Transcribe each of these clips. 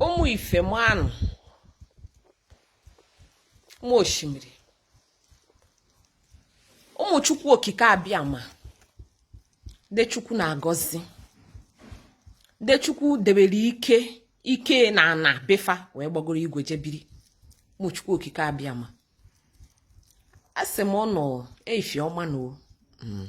ụmụ ife mụ anụ ụmụ osimiri ụmụ chukwu okike abịama ndị chukwu na-agọzi ndị chukwu debere ike ike na ana be fa wee gbagoro igwe jebiri ụmụ chukwu okike abịama asị m ụnụ efi ọma nụ o hmm.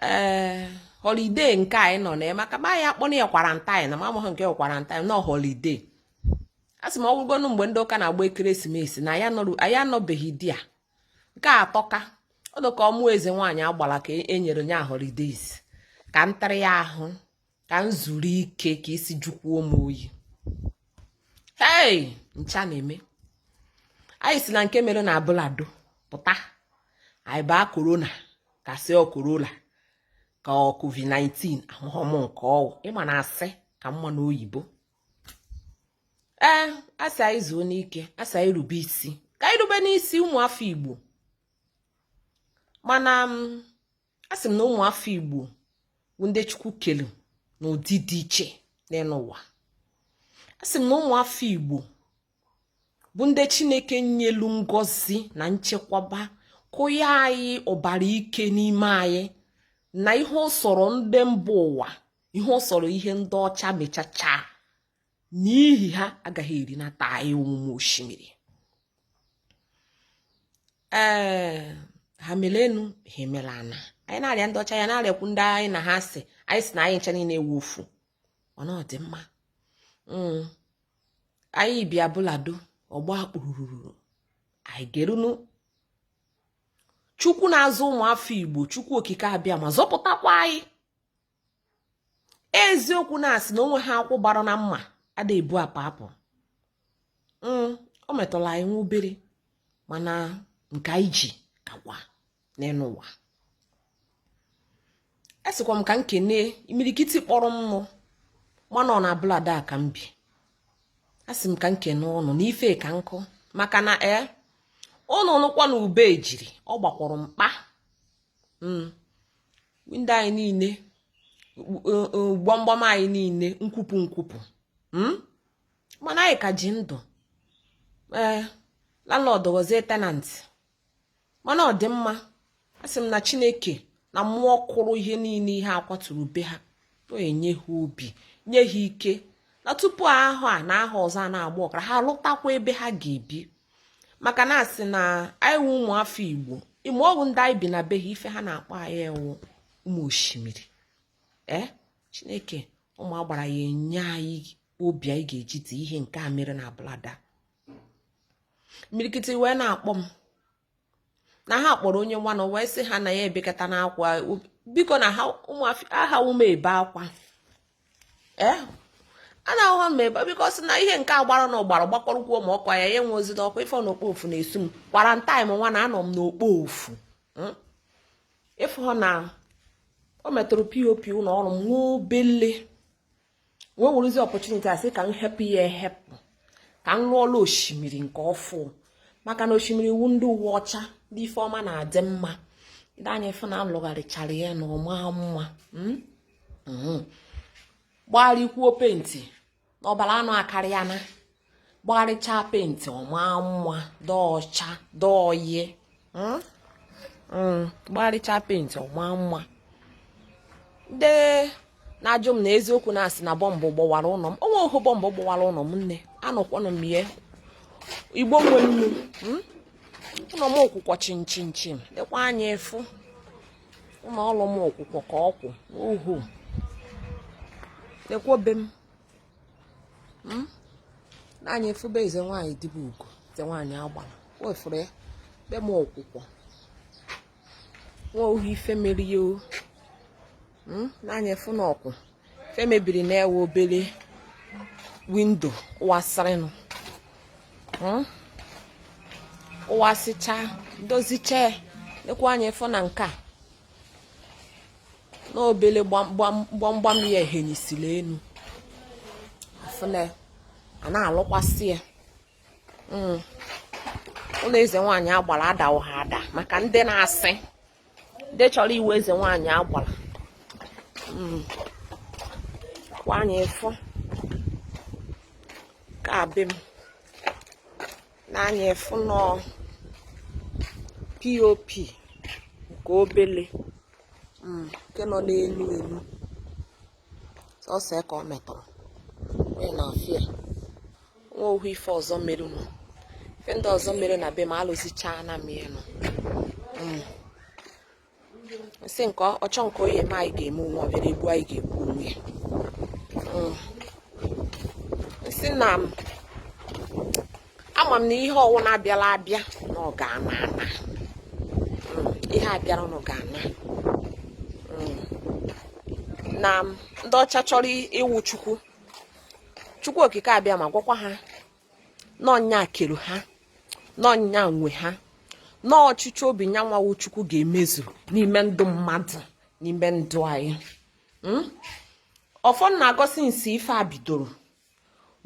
ee eh, holiday nke anyị nọ na maka ma ya akpọna ya quarantine na m amaghị nke quarantine nọ holiday a sị m ọ wụgonu mgbe ndị ụka na-agba ekeresimesi na anyị anọbeghị ụdị a nke a atọka ọ dụ ka ọmụ eze nwaanyị agbala ka e nyere nya holidays ka ntarị ya ahụ ka m zuru ike ka isi jukwuo m oyi ihe ncha na-eme anyị si na nke mere na abule ado pụta anyị baa corona ka a sị ọ corona ka ọ covid-19 ahụhọ m nke ọ wụ ị ma na asị ka mma n'oyibo ee asị anyị zuonu ike asị anyị rube isi ka anyị rubenu isi ụmụafọ igbo mana mm, a sị m na ụmụafọ igbo bụ ndị chukwu kelu n'ụdị dị iche n'enu ụwa a sị m na ụmụafọ igbo bụ ndị chineke nyelu ngọzi na nchekwaba kụnye anyị ọbara ike n'ime anyị na ihe ọ sọrọ ndị mba ụwa ihe ọ sọrọ ihe ndị ọcha mechacha na ihe ha agaghị erinata anyị ụmụ ọma osimiri ee ha mele enu ha emele ana anyị na-arịa ndị ọcha ya na-arịakwu ndị anyị na ha si anyị si na anyị ncha niile wụ ofu mana ọ dị mma hmm. anyị bi abule ado ọ gbaa kpụrụrụrụ anyị gerunu chukwu na-azọ ụmụafọ igbo chukwu okike abịama zọpụtakwa anyị eziokwu na a sị na o nwehọ akwụ gbara na mma ada ebu apa apụ mm, o metụla anyị nwa obere mana nke anyị ji kakwa n'enu ụwa esikwa m ka m kene imirikiti kpọrọ m nụ ma na ọ na abule ado ka m bi asị m ka m kene ụnụ n'ife ka nkụ maka na ee eh, ụnụ nụkwa na ube ejiri ọ gbakwọrọ mkpa hmm. window anyị niile gbamgbam anyị niile nkwupụ nkwupụ hmm. mana anyị ka ji ndụ ee eh, landlord gọzie tenant mana ọ dị mma asị m na chineke na mmụọ kụrụ ihe niile ihe akwaturu be ha o enye ha obi nye ha ike na tupu ahọ a na ahọ ọzọ a na-agba ọkara ha lụtakwa ebe ha ga-ebi maka na asị na anyị wụ ụmụafọ igbo ime ọgwụ ndị anyị bi na be ha ife ha na-akpọ anyị ewu ụmụ osimiri ee eh? chineke ụmụ agbara ya enye anyị obi anyị ga-eji die ihe nke a mere na abule ado imirikiti wee na-akpọ m na ha kpọrọ onye nwanụ wee sị ha na ya ebekata na akwa biko na anahọ m ebe akwa ee eh? anahọ m ebe biko sị na ihe nke agbara na ọgbara gbakọrọ kwuo ma ọkwa ya ya enwe ozi n'ọkwa ịfụ na okpo ofu na-esu m quarantine nwa na anọ m n'okpo ofu hmm? ịfụ na o metụrụ pop ụlọ ọrụ m nwa obele wee werezi opportunity a sị ka m hepụ ya ehepụ ka m lụọla osimiri nke ọfụ maka na osimiri wụ ndị uwe ọcha ndị ife ọma na-adị mma nee anya fụ na alụgharịchara ya na ọ maa mma hmm? hmm. gbarịkwuo penti na ọbara anụ akarịana gbarịchaa penti ọ maa mma dị ọcha dọọye hmm? hmm, gbarịchaa penti ọ maa mma ndị na-ajụ m na eziokwu na-asị na bọmbụ gbọwara ụlọ m o nwehọ bọmbụ gbọwara ụlọ m nne anọkwanụ m ihe igbo nwe nnu hmm? ụlọ m ọ kwụkwọ chịm chịm chịm lekwa anya fụ ụlọ ọrụ m ọ kwụkwọ ka ọ kwụ oho lekwa be m hmm? nee anya fụ be eze nwaanyị dibugo eze nwaanyị agbara wefụrụ ya be m ọ kwụkwọ o nwehọ ife mere ya o hmm? nee anya fụ na ọ kwụ ife mebiri na ọ wụ obele windo ọ wasịrịnụ hmm? ọ wasịcha dozicha lekwa anya fụ na nke a na obele gbamgbam ya ehenyisiri enu afụna a na-alụkwasị ya hmm. ụlọ eze nwaanyị agbara adahọ ada maka ndị na-asị ndị chọrọ ịwụ eze nwaanyị agbara hmm. kwa anya fụkwa be m nee anya fụnụ pop nke obele mm, nke nọ n'enu enu sọsọ ka ọ metụrụ wee na afịa o nwehọ ife ọzọ merenụ ife ndị ọzọ mere na be m alụzichaana m ya nọ mm. m sị nke ọchọ nke ọ ya-eme anyị ga-eme onwe ọbịara egbu anyị ga-egbu onwe ya mm. m sị na ama m na ihe ọwụna bịara abịa na ọ ga-ana ana mm. ihe bịara na ọ ga-ana mm. na ndị ọcha chọrọ ịwụ chukwu chukwu okike abịama gwakwa ha na ọ nya kere ha na ọ nya nwe ha na ọchịchọ obi nya nwa wụ chukwu ga-emezu n'ime ndụ mmadụ n'ime ndụ anyị hmm? ọfọ na-agọ since ife a bidoro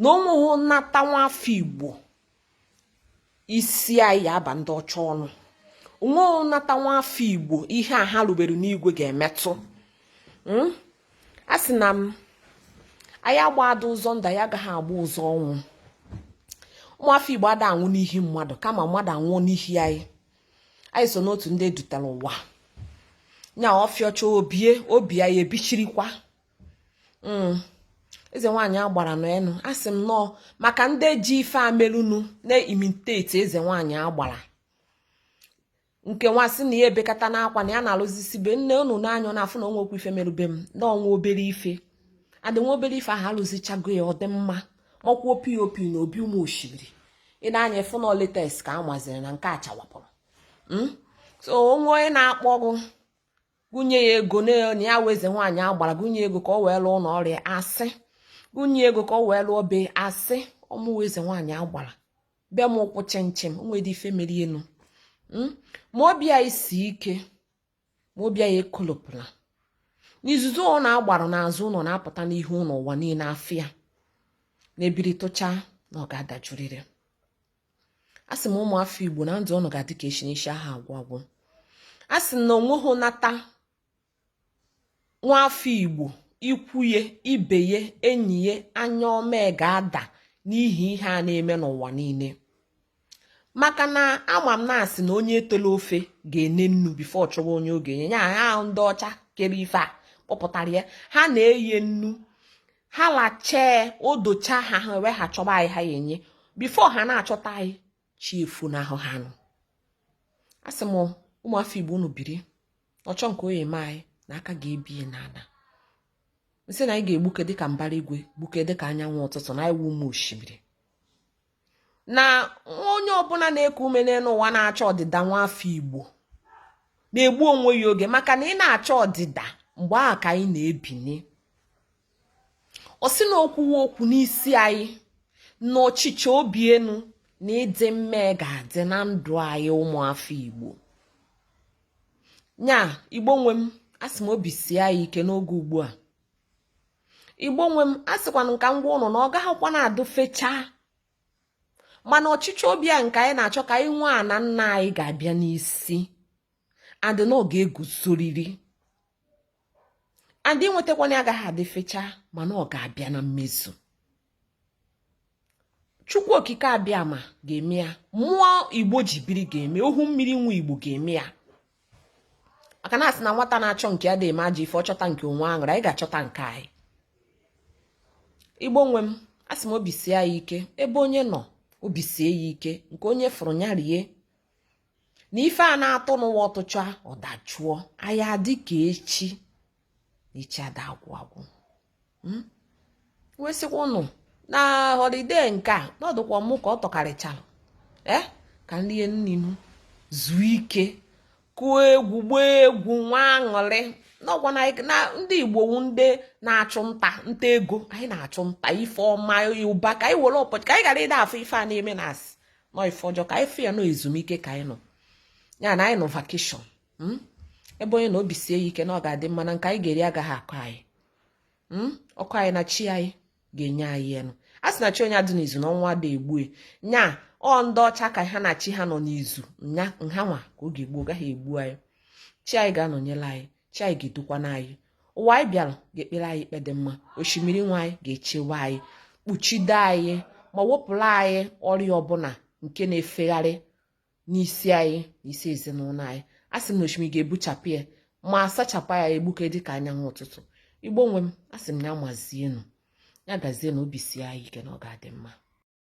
na onweghị nnata nwa afọ igbo isi anyị ya-aba ndị ọcha ọnụ onweghị nnata nwa afọ igbo ihe a ha rubere n'igwe ga-emetụ hmm? a sị na m anyị agbada ụzọ ndụ anyị agaghị agba ụzọ ọnwụ ụmụafọ igbo ada anwụ n'ihi mmadụ kama mmadụ anwụọ n'ihi anyị anyị so n'otu ndị edutara ụwa nya ọfịọcha o bie o bie anyị ebichirikwa mm. eze nwaanyị agbara n'enu a sị m nọọ maka ndị ji ife a melụnụ na-imitate eze nwaanyị agbara nke nwa sị na ya ebekata n'akwa na ya na-alụzisi be nne unu n'anya ọ na-afụ na onwekwu ife merube m na onwe obere ife adị nwa obere ife ahụ alụzichago ya ọ dị mma makwuo POP na obi ụmụ osimiri ị na-anya efu na ọ latest ka a maziri na nke a chawapụrụ hmm? so onwe onye na-akpọ gụ gụ nye ya ego na ya wụ eze nwaanyị agbara gụ nye ego ka ọ wee lụọ ụlọ ọrịa a sị gụ nye ego ka ọ wee lụọ be a sị ọ mụwa eze nwaanyị agbara bịa m ụkwụ chịmchịm onwedị ife merenụ hmm? ma obi anyị sie ike ma obi anyị ekolopụla n'izuzu a na-agbara n'azụ ụlọ na-apụta n'ihu ụlọ ụwa niile na ife a na-ebiri tụcha na ọ ga-adajurịrị a sị m ụmụ afọ igbo na ndụ unu ga-adị ka echi na echi aha agwụ agwụ a sị na onweghị nata nwafọ Igbo ikwu ya ibe ya enyi ya anya ọma ga-ada n'ihi ihe a na-eme n'ụwa niile maka na ama m na-asị na onye tele ofe ga-ene nnu before ọ chọwa onye ọ ga-enye ya ha ahụ ndị ọcha kere ife a kpọpụtara ya ha na-eye nnu ha lachaa o dochaa ha ha wee ha chọba anyị ha ya-enye before ha na-achọta anyị chi efu n'ahụ ha nụ a sị m ụmụafọ igbo unu biri ọchọ nke ọ ya-eme anyị na aka ga-ebie n'ala m sị na anyị ga-egbuke dịka mbara igwe gbuke dịka anyanwụ ụtụtụ na anyị wụ ụmụ osimiri na onye ọbụla na-eku ume n'elu ụwa na-achọ ọdịda nwa afọ igbo na-egbu onwe ya oge maka na ị na-achọ ọdịda mgbe ahụ ka anyị na-ebini ọ sị na okwuwe okwu n'isi anyị na ọchịchọ obi enu na ịdị mma ga-adị na ndụ anyị ụmụafọ igbo nya igbo nwe m asị m obi sie anyị ike n'oge ugbu a igbo nwe m asịkwa m ka m gwa ụnụ na ọ gaghịkwanụ adị fechaa mana ọchịchọ obi a nke anyị na-achọ ka anyị nwee ana nna anyị ga-abịa n'isi adị na ọ ga-eguzoriri and inwetakwanụ agaghị adị fechaa mana ọ ga-abịa na mmezu chukwu okike abịama ga-eme ya mmụọ igbo ji biri ga-eme ohimiri nwe igbo ga-eme ya maka na asị na nwata na-achọ nke ya ada eme ajọ ife ọ chọta nke onwe aṅụrụ anyị ga-achọta nke anyị igbo nwe m asị m obi sie ya ike ebe onye nọ obi sie ya ike nke onye fụrụ ya rie na ife a na-atụ n'ụwa ọ tụchaa ọ dajụọ anyị adị ka echi na echi ada agwụ agwụ hmm? wee sịkwa ụnụ na holiday nke a ọ dịkwa mụ ka ọ tọkarịchara ee eh? ka m rie nni ṅụọ zuo ike kụọ egwu gbaa egwu nwee aṅụrị n'ọgwa na ndị igbo wu ndị na-achụ nta nta ego anyị na-achụ nta ife ọma ụba ka anyị were ụbọchị ka anyị ghara ịda afọ ife a na-eme na asị na ọ ife ọjọọ ka anyị fụ ya na ọ ezumike ka anyị nọ ya na anyị nọ vacation hmm? ebe onye nọ obi sie ya ike na ọ ga-adị mma na nke anyị ga-eri agaghị akọ anyị hmm? ọ kọọ anyị na chi anyị ga-enye anyị enu a sị na chi onye adị n'izu na ọnwụ ada egbue nya ọ ndị ọcha ka ha na chi ha nọ n'izu nya na ha nwa ka ọ ga-egbu ọ gaghị egbu anyị chi anyị ga-anọnyere anyị chi anyị ga-edukwana anyị ụwa anyị bịara ga-ekpere anyị ikpe dị mma osimiri nwe anyị ga-echewe anyị kpuchido anyị ma wepụrụ anyị ọrịa ọbụla nke na-efegharị n'isi anyị na isi ezinụlọ anyị a sị m na osimiri ga-ebuchapụ ya ma sachapụ ya egbuke dị ka anyanwụ ụtụtụ igbo nwe m a sị m ya mazienụ ya gazienụ obi sie anyị ike na ọ ga-adị mma